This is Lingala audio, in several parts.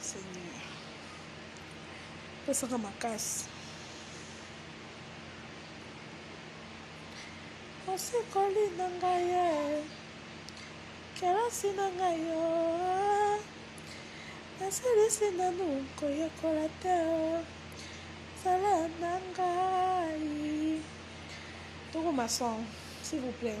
Seigneur. Pesaka makasi. Osikoli na ngai ye. Kelasi na ngai yo. Nasilisi nanu koyekola te. Zala na ngai. Toko masong, s'il vous plaît.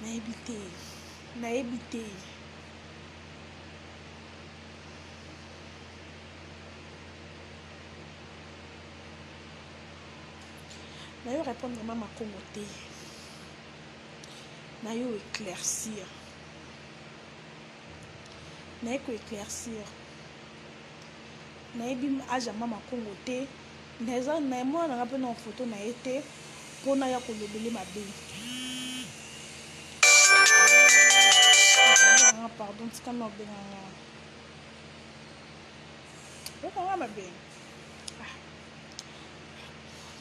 Nayebi te. Nayebi te. Nayo répondre mama Congo te. Nayo éclaircir. Naye ko éclaircir. Nayebi âge ya mama Congo te. Mais eza mais mwana nanga pe nao photo na ye te po naya kolobele mabe nanga pardon tika nao benga nga oyoka nga mabe ah.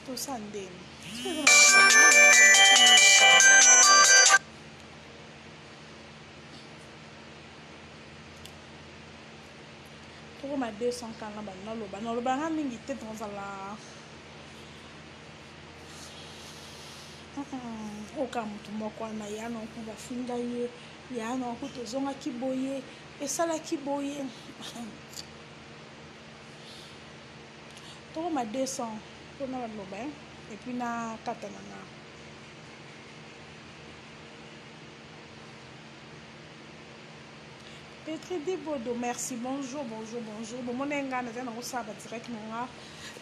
tosa ndeni tokoma 200 kala na banda loba na loba nga mingi te tozala oka motu moko wana ya na oku bafinga ye ya na oku tozongaki boye esalaki boye tokoma 200 mpona baloba epuis na kata na nga Petri Dibodo, merci. Bonjour, bonjour, bonjour. Bon, mon enga, na zana ko saba direct na nga.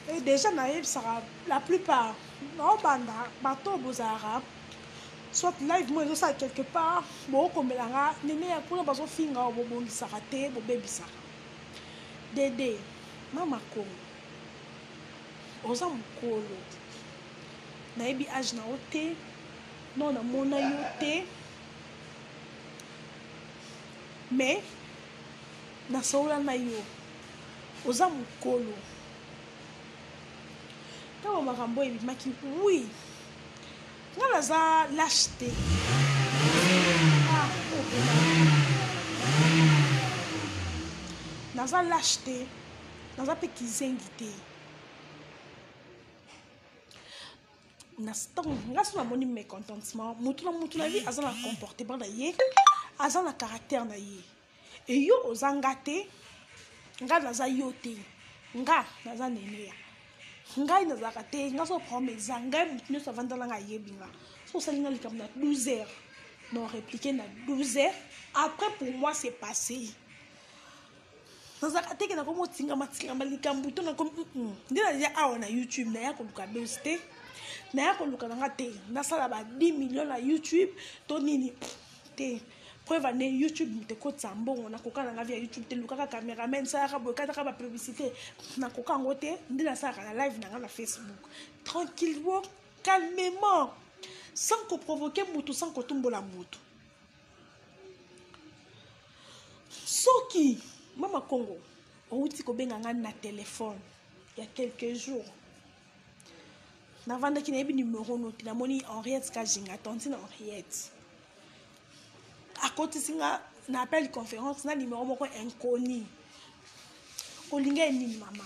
Et déjà na yeb sara la plupart. Na obanda bato bozara. Soit live moi ça quelque part, bo kombela nga nene ya kuna bazo finga bo bongi sara te, bo baby sara. Dede, mama ko. Oza mukolo. Na yebi âge na ote. Non na mona yo te. Mais na solola na yo oza mokolo ntango makambo oyo ebimaki wi nga naza lashe te ah, oh, naza lashe te naza mpe kizengi te na ntango nga so namoni mécontentement motu na motu na ye aza na comportement na ye aza na caractère na ye eyo oza nga te nga naza yo te nga naza neneya ngai nazalaka te nga so problème eza ngai motu nyonso avandala nga ayebi nga so osali nga likambo na 12 heures na répliquer na 12 heures après pour moi c'est passé nazalaka teke na komi otingama tingama likambo to nakomi nde naza awa na youtube naya koluka bes te naya koluka na nga te nasala ba 10 million na youtube to nini te preuve ane youtube moto ekotisa mbongo nakoka na nga via youtube te lukaka cameraman salaka boye kataka ba publicité nakoka yango te nde nasalaka na live na nga na facebook tranquillement calmement sans koprovoke motu sans kotumbola motu soki mama kongo outi kobenga ngai na telefone ya quelques jours navandaki nayebi numero no te namoni henriette kajinga tantine henriette akotisi nga na appel conférence na numero moko inconi olinga ye nini mama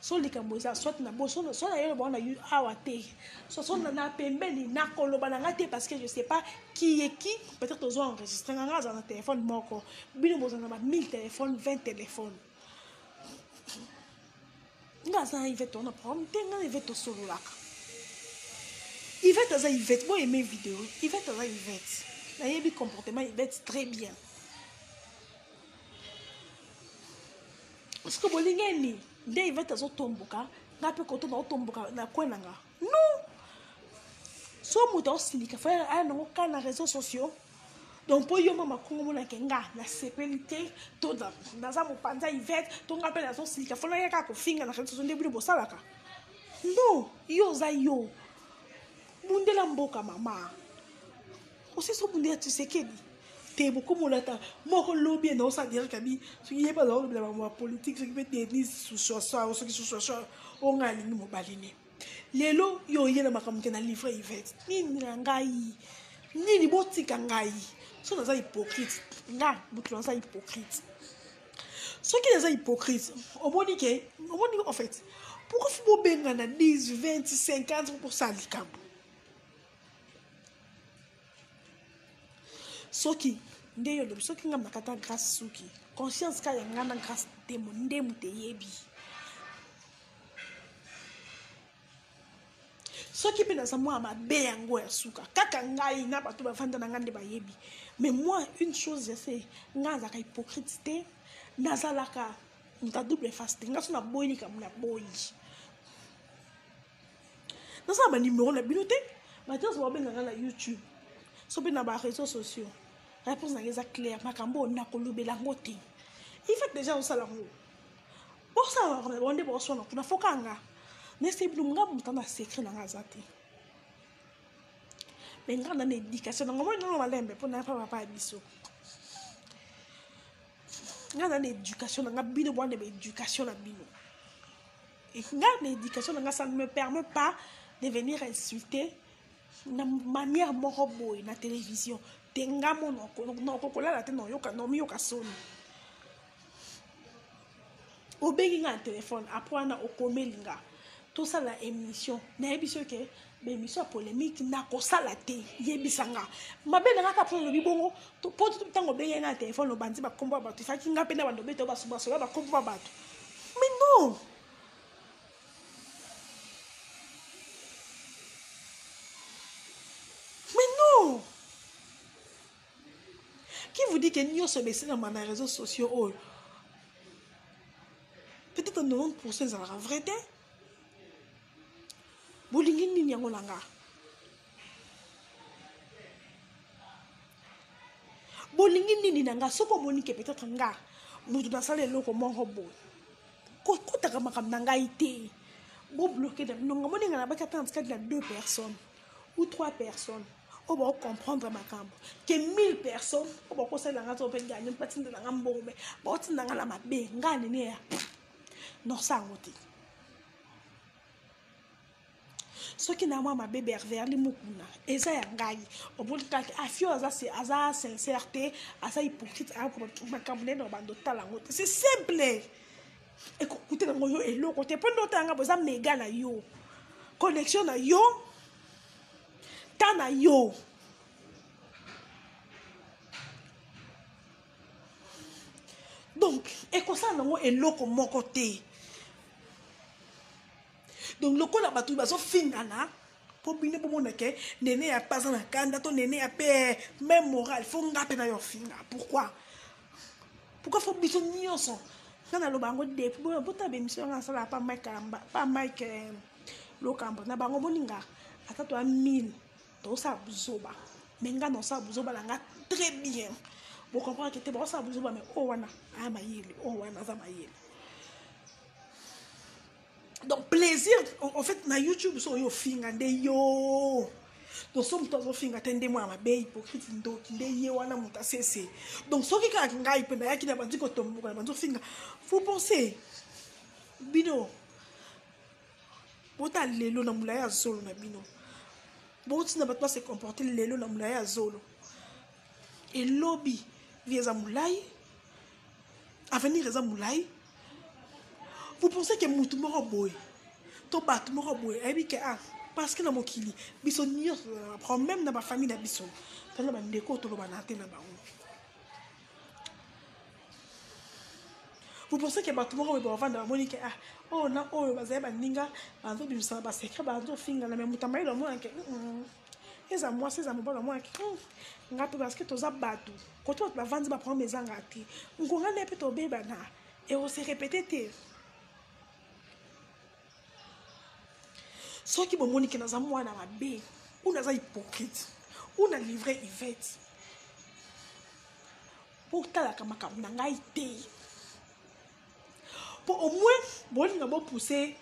Soki likambo eza soit na boso soit na yolo bwana yu awa te. Soit soit na pembeni na koloba na nga te parce que je sais pas qui est qui. Peut-être ozo enregistrer nga nga na téléphone moko. Bino bozo na ba 1000 téléphones, 20 téléphones. Nga za Yvette on a problème te nga Yvette to sololaka. Yvette aza Yvette bo aimer vidéo. Yvette aza Yvette. Na yebi comportement Yvette très bien. Siko bolingi ye nini? Nde Yvette azotomboka, nga pe koto naotomboka na coin na nga. Non! So moto aosilika fa aya nango ka na réseaux sociaux. Donc po yo mama kongo mona ke nga nasepeli te to naza mopanza Yvette to nga pe nazosilika fa naya kaka kofinga na réseaux sociaux nde bino bosalaka. Non, yo oza yo. Bundela mboka mama. osisi obundela tshisekedi te bokomolata moko lobi enda osala derek abi soki ye mpe azala olobela bango ya politike soki mpe denise susuasao soki susuasao oyo ngai alingi mobali ne lelo yo oye na makambo ke na livre ivete nini na ngai nini botika ngai so naza hypocrite nga motu naza hypocrite soki naza hypocrite omoni ke omoni en fait pourquoi fo bobengana 10 20 50 mpo kosala likambo soki nde yo lobi soki nga makata grace suki conscience ka ya nga na grace temo nde moto eyebi soki mpe naza mwana mabe yango ya suka kaka ngai na bato bafanda na ngai nde bayebi mais moi une chose je sais ngai azalaka hypocrite te nazalaka moto ya double face te ngai so naboyi likambo naboyi nasala ba numero na bino te batios babengaka na youtube so mpe na ba réseaux sociaux réponse nanga eza claire makambo oyo nakolobela yango te ifat déjà osala yango bosala bango nde boswana kuna fokanga nayesai bino nga moto na secret nanga aza te me nga na na éducation nango moi nano malembe mpo naya mpa papa ya biso nga na na éducation nanga bino bwana ba éducation na bino nga na éducation na nga ça ne me permet pas de venir insulter na manière moko boye na télévision te nga monoko noko kolala te naoyoka naomiyoka soni obengi nga na telefone apres wana okomeli nga tosala émission nayebi soki ba emission ya polemique nakosala te yebisa nga mabe na nga kaka mpona olobi bongo po ntango obengeli nga na telefone obanzi bakombo ya bato esaki nga mpe na bando beto basobasoba bakombo ya bato mais non mais non qui vous dit que nyonso besalama na réseaux sociaux oyo peut-être 90 pourcent ezalaka vrai te bolingi nini yango na nga bolingi nini na nga soki omoni ke peut-être nga moto nasala eloko moko boye kotaka makambo na ngai te bobloke na bino nga moninga na baki ata na tikati na deux personnes ou trois personnes oyo bakocomprendre makambo ke 1000 personnes oyo bakosalela nga to mpe gani mpe atindela nga mbongo me baotinda nga na mabe nga nini ya non sa yango te soki na mwa mabe berverli mokuna eza ya ngai omoni kaka afio aza, aza sincère te aza hypocrite makambo nene na bando otala yango te c'est simple ekokutela yango yo eloko te mpo nde otala ngai boza mega na yo connexion na yo temps na yo donc ekosala nango eloko moko te donc lokola bato bazofingana mpo bino bomona ke nene ya mpe aza na kanda to nene ya mpe eh, meme moral fo nga mpe nayo finga pourquoi pourquoi fo biso nyonso nga naloba yango depuis boyo bota bemission yanga nasala pa mike kalamba pa mike eh, lokambo na bango boninga ata to ya mine Tozosala buzoba mais nga naosala buzoba na nga très bien bo comprendre que te baosala buzoba mais oyo wana aya mayele oyo wana aza mayele donc plaisir en fait na youtube so oyo ofinga nde yo donc so moto azofinga te nde mwana mabe hypocrite ndoki nde ye wana moto asese donc soki kaka ngai mpe nayaki na bandi kotomboka na bandi ofinga vous pensez bino Bota lelo na mulaya zolo na bino. Boti na bato ba se comporter lelo na mulaya zolo. Et lobby, vie eza mulayi. Avenir eza mulayi. Vous pensez que mutu moko boye to bato moko boye ayebi ke ah parce que na mokili biso nyonso tozala na problème na bafamille na biso tozala bandeko tolobana te na bango vous pensez que bato moko boye bavanda bamoni ke ah oyo na oyo bazali baninga bazobimisana baseka bazofingana me moto amayele omona ke eza mwasi eza mobali omona ke nga mpe parceke toza bato kote bato bavandi baproblème ezanga te nkonga nde mpe tobebana ekose repete te soki bomoni ke naza mwana mabe ou naza hypocrite ou na livre ivete botalaka makambo na ngai te mpo au moins bolinga bopuse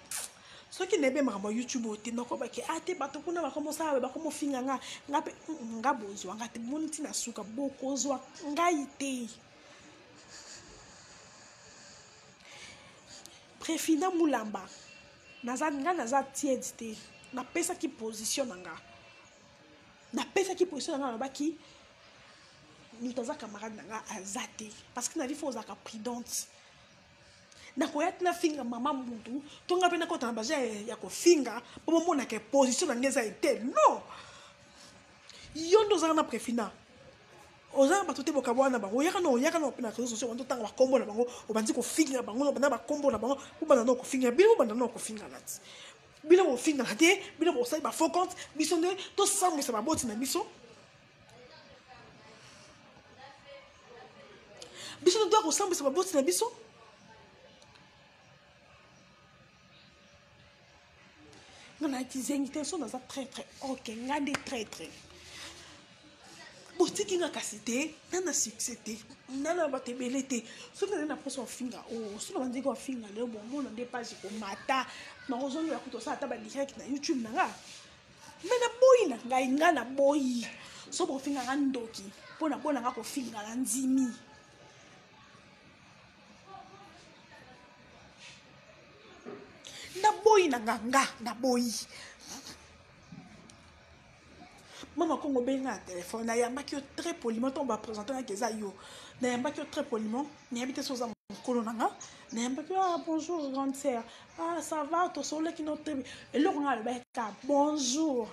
soki nayebi makambo ya youtube oyo te nakobaki a ah, te bato kuna bakomosala boye bakomofinga nga nga mpe mm, mm, nga bozwa nga te moni ntina suka bokozwa ngai te Prefina Mulamba naza nga naza tiède te napesaki position na nga napesaki position na nga nalobaki moto aza camarade na nga aza te parce que na vie fo ozalaka prudente nakoya te nafinga mama mutu to nga mpe nakota na baza ya kofinga mpo bomonaka position na nga eza ete non yo nde ozalaka na prefina Oza na bato te bokabuana na bango oyaka na oyaka na na reseaux sociaux obandi otanga bakombo na bango obandi kofinga bango na banda bakombo na bango bobanda na kofinga bino bobanda na kofingana ti bino bofingana te bino bosali ba faux compte biso nde tosambwisa baboti na biso biso nde toya kosambwisa baboti na biso nga na kizengi te so naza traitre ok nga nde traitre botiki nga kasi te nga na succès te nga na bato ebele te soki nazali na mposa ofinga o oh, soki nabandiki ofinga leo bomona nde page ekomata nakozongela kutu osala ata badirect na youtube na nga me naboyi na ngai nga naboyi so bofinga nga ndoki mpo na mpo na nga kofinga na ndimi naboyi na nganga naboyi mama kongo benga na telefone nayambaki yo très poliment ntango bapresente naki eza yo nayambaki yo très poliment nayebi te so oza mokolo na nga nayambaki ah bonjour grande sœur ah ça va tosololaki no tebi eloko nga alobaki ka bonjour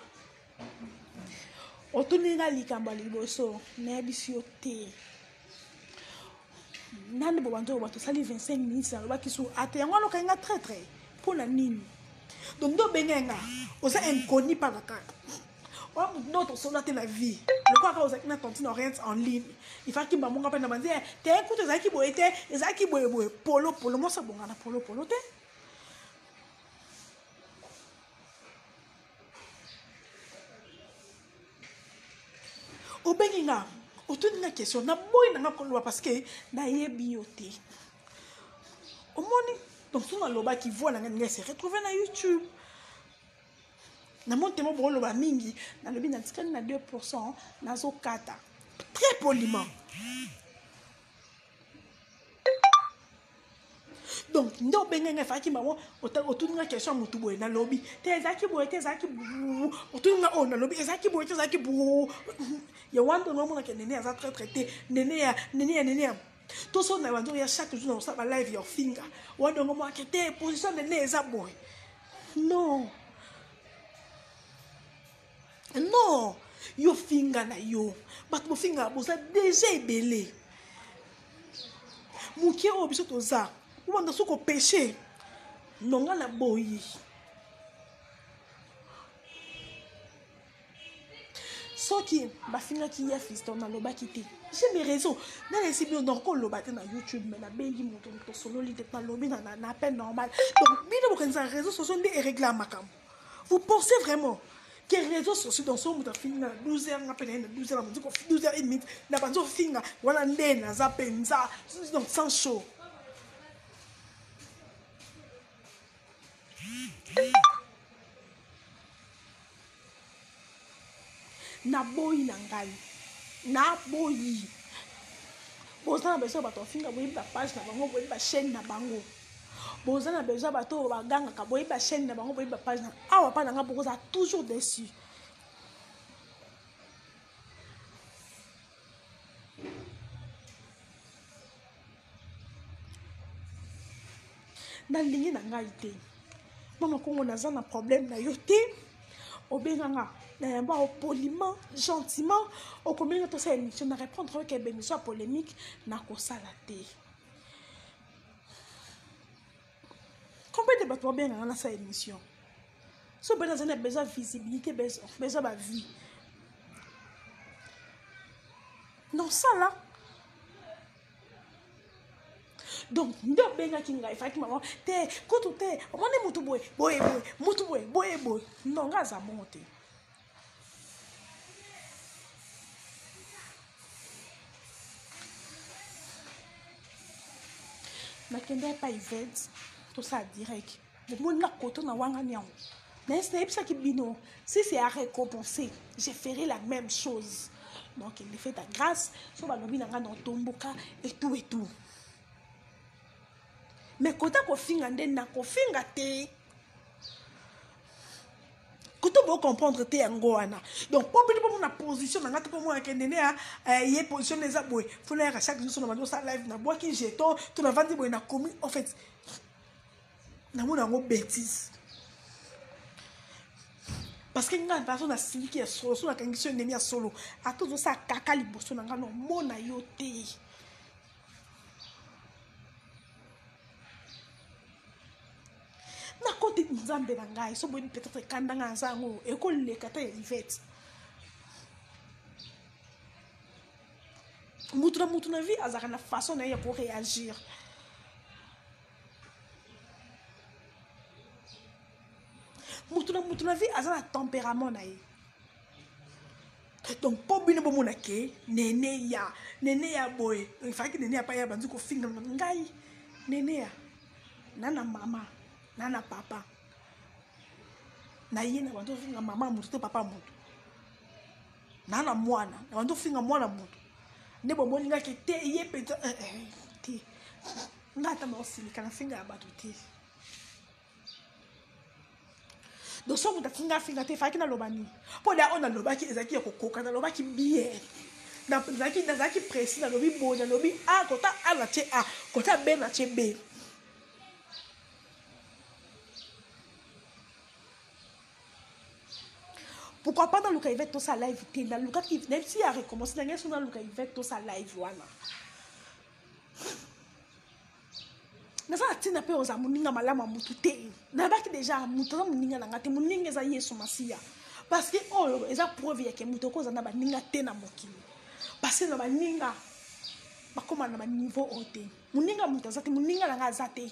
otuni nga likambo ya liboso nayebisi yo te nani bobandi oyo bato osali 25 minutes nalobaki su ate yango wana okangi nga traitre mpo na nini donc nde obengee nga oza inconi mpaka kaka oyo motu nde otosola te na vie lokola kaka ozalaki na tantine oriente en ligne ifaki bamonga mpe na banzi eh, te kutu ezalaki boye te ezalaki boyeboye polopolo mosi abongana polopolo te obengi nga otuni nga question naboyi na nga koloba parce que nayebi yo te omoni donc soki nalobaki voi na nga ninga se retrouve na youtube na moni temo bokoloba mingi nalobi natikali na 2 pourcent nazokata très poliment donc nde obengai ngai faki mama otuni nga question ya motu boye nalobi te ezalaki boye te ezalaki otuni nga oyo oh, nalobi ezalaki boye te ezalaki bo ya wana nde nomona ke nene aza traitre te nene ya nene ya nene ya to so na banzo ya chaque jour na kosala ba live your finger wana nde ngomona ke te position nene eza boye non non yo finga na yo bato bofingaka boza deja ebele moke oyo biso toza obanda so kopeshe nonga na boyi soki bafingaki ya fiston nalobaki te j'ai mes raisons nalesi bino donc koloba te na youtube mais nabengi moto moto osololi te nalobi na appel normal donc bino bokanisa réseau socio nde eregle ya makambo Vous pensez vraiment que réseaux sociaux dans son muta finga 12 heures nga pena 12 heures mutiko 12 heures et demie na banzo finga wana nde naza penza donc sans show Naboyi na ngai na boyi boza na besoin ya bato bafinga boyebi ba page na bango boyebi ba chaîne na bango boza na besoin ya bato oyo bagangaka boyebi ba chaîne na bango boyebi ba page na awa pa na ngai bokozala toujours dessus nalingi na ngai te mama kongo naza na problème na yo te obenganga na yango ao poliment gentiment okobenga tosala émission na répondre oyoka émission ya polémique nakosala te combien de bato babenganga nasala émission so mpe nazali na besoin visibilité besoin bavie nosala donc nde obengaki ngai faki mama te kutu te omoni mutu boye boye boye mutu boye boye boye non ngai aza bongo te nakenda epai vete tosala direct bomoni na koto na wangani yango mais nayebisaki bino si c'est à récompenser je ferai la même chose donc il me fait ta grâce so balobi na ngai na otomboka etou etou mais kota kofinga nde nakofinga te kutu bocomprendre te yango wana donc po bino bomona position na ngai te pomona kende ne eh, ye position eza boye fona yaka chaque jour so na bandi osala live nabwaki jeton to navandi boye nakomi en fait namona yango betise parce que ngai nazo na siliki ya solo so nakangisi yo ndemi ya solo ata ozosala kaka liboso na ngai nomona yo te nakoti nzambe na ngai so boyebi peut-être ekanda ngai naza yango ekoleka ata ya ivete mutu na mutu na vie azalaka na façon na ye ya ko réagir mutu na mutu na vie aza na tempérament na ye donc mpo bino bomona ke nene ya nene ya boye efalaki nene ya paya banzi kofinga ngai nene ya na na mama na na papa na ye na banzi kofinga mama ya moto to papa ya moto naa na mwana na bandi ofinga mwana moto nde bomoni nga ke te ye mpenza eh, eh, eh, te nga ata maosilika na finga ya bato te donc soki moto afinga afinga te efalaki naloba nini mpo da oyo nalobaki ezalaki ya kokoka nalobaki bien nazalaki nazalaki presi nalobi boye nalobi a ah, kota a na tie a kota b na tie b pourquoi pas naluka ivete tosa live te nalukaki nayebi si ya recommence na ngai so naluka ivete tosa live wana naza na ntina mpe oza moninga malamu ya motu te nayebaki deja moto aza moninga na ngai te moninga eza yesu masiya parce que oyo eza preuve yake moto oko oza na baninga te na mokili parce na baninga bakoma na baniveau oyo te moninga moto aza te moninga na ngai aza te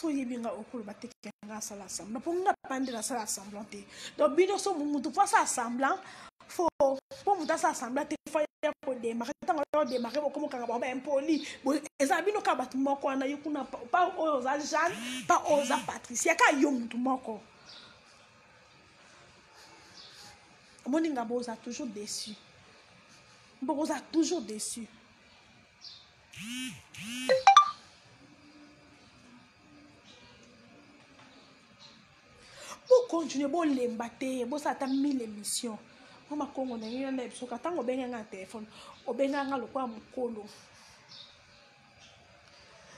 so oyebi nga okoloba te ke nga asala assemblant mpo nga pa nde nasala assemblant te donc bino so motu mpo asala assemblant fo mpo motu asala assemblant te fo ya kodemare ntango ya kodemare bokomokanga bango baimpoli eza bino kaka bato moko wana yo kuna pa oyo oza jeanne pa oyo oza patricia kaka yo motu moko omoni nga boza toujours déçu bokoza toujours déçu bocontinue bolemba te bosala ata mille émission mpo makongo na yo na bisoka ntango obenganga na telefone obenganga lokola mokolo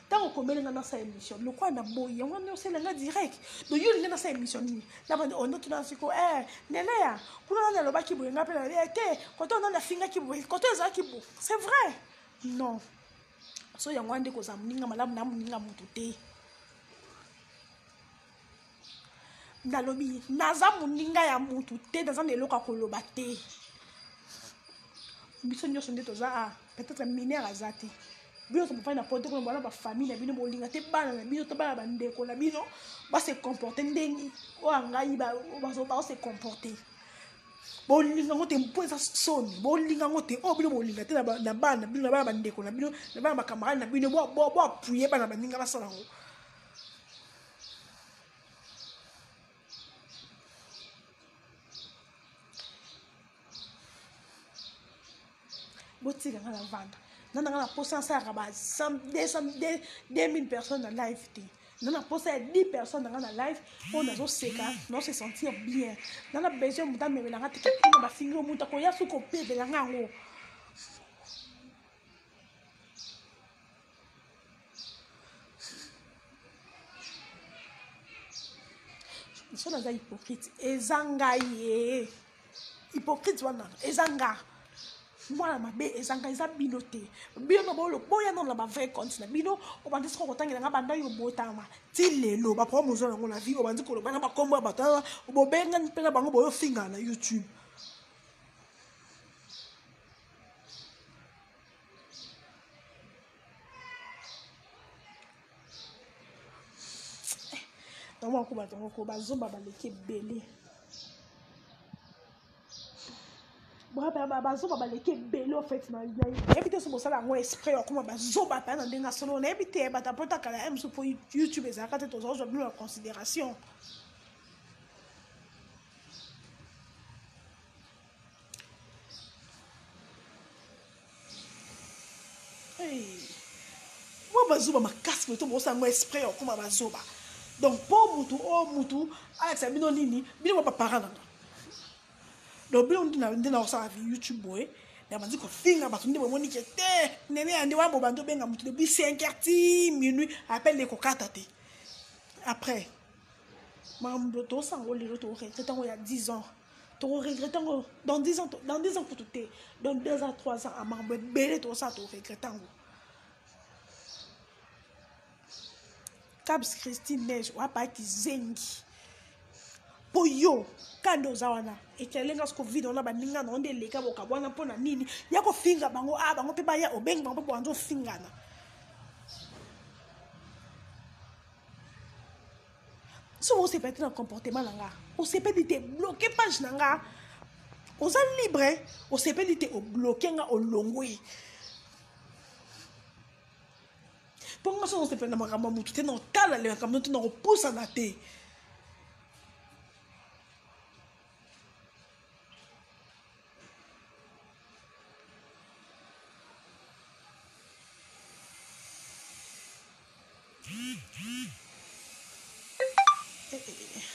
ntango okomeli ngai nasala émission lokola na boyi yango wana osala ngai direct do yo olingi nasala émission nini nabandi ondo oh, tuna siko e eh, nelea kuna nani alobaki boye ngai mpe na eh, te koto nani afingaki boye koto ezalaki bo c'est vrai non so yango wana nde kozala moninga malamu na moninga motu te nalobi naza moninga ya mutu te naza na eloko ya koloba te biso nyonso nde toza a peut-être mineur aza te bino nyonso bofandi na poto kuna bana bafamille na bino bolinga te bana na bino to bana bandeko na bino base comporte ndenge oyo angai baose comporte bolinga ngo te mpo eza soni bolinga ngo te oyo bino bolinga te na bana bino na bana bandeko na bino na bana bakamarade na bino boapuye bana baninga basala yango botika nga na vanda na nanga na posa asalaka ba 2000 personnes na live te na na posa ya 10 personnes nanga na live oyo nazoseka nao se sentir bien na na besoin moto amemela nga teke kuna bafingi yo moto akoya soki kopebela nga yango so naza hypocrite eza ngai ye hypocrite wana eza nga mwana mabe eza ngai eza bino te bino na bolo boya nano na bavrai compte na bino obandi soki okotangela nga banda yo botama ti lelo baproblème oza nango na vie obandi koloba na bakombo ya bato aa bobengani mpe na bango boyofingana na youtube naomona ko bato moko bazoba baleki ebele bazoba baleki ebele ofete nayebi te so bosala yango esprit akoma bazoba mpe na ndenge asolo nayebi te bato apotakala ya mosu mpo youtube ezalaka te tozozwa bino na considération mwa bazoba makasi boye to bokosala yango esprit okoma bazoba donc mpo motu o oh, motu alakisa bino nini bino mwa baparent nanga donc bino nde nde nakosala vi youtube boye nabandi kofinga bato nde bomoni ke te nene ya nde wana bobandi obenga motu depuis 5 heure ti minuit apele ekokata te après makambo tosanga ngo lelo toregrete yango ya 10 ans toko regrette yango dans 10 ans dans 10 ans kutu te dans 2 ans 3 ans amambo ebele tokosala toko regrette yango cabs christine neige wapa kizengi mpo yo kande oza wana ekelenga siko vide wana baninga na yo nde eleka bokabo wana mpo na nini ya kofinga bango a ah, bango mpe baya obengi bango mpe boanza ofingana soki osepela te na comportement na nga osepeli te bloke page na nga oza libre osepeli te obloke nga olongwe mpo nga soki osepela na makambo ya motu te na otala le makambo te na kopusana te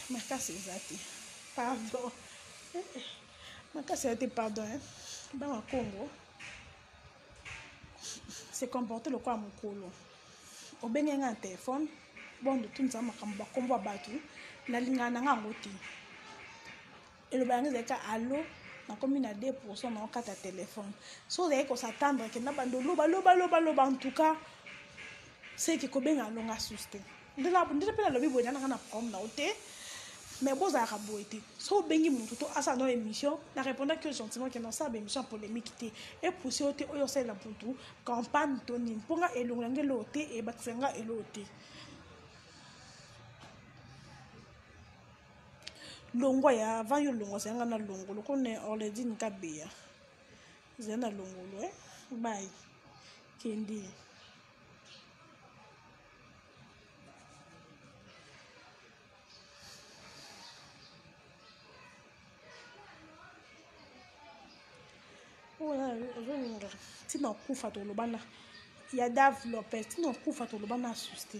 makasi eza te pardon makasi eza te pardon bana congo se comporte lokola mokolo obenge ngai na telefone bondotunza makambo bakombo ya bato nalingana na ngai yango te eloba yango ezali ka alo nakomi na 2 pourcent na okata telefone soki ozali kosatandre ke na bando loba loba loba loba en tout cas seke kobenga alonga susu te nde mpe nalobi boye nanaka na problème na yo te mais bozalaka boye te so obengi motu to asala no émission na répondaki yo gentiment ke nasala baémission ya polémique te epousse yo te oyo osalela motu campagne to nini mpo nga elongo yango eloo te ebakisa nga eloo te longwa ya avant yo longwa zanga na longo loko ne orledine kabeya zala na longolo eh? bai kendi ozolinga ntina okufa toloba na ya dave lopez ntina okufa toloba na susi te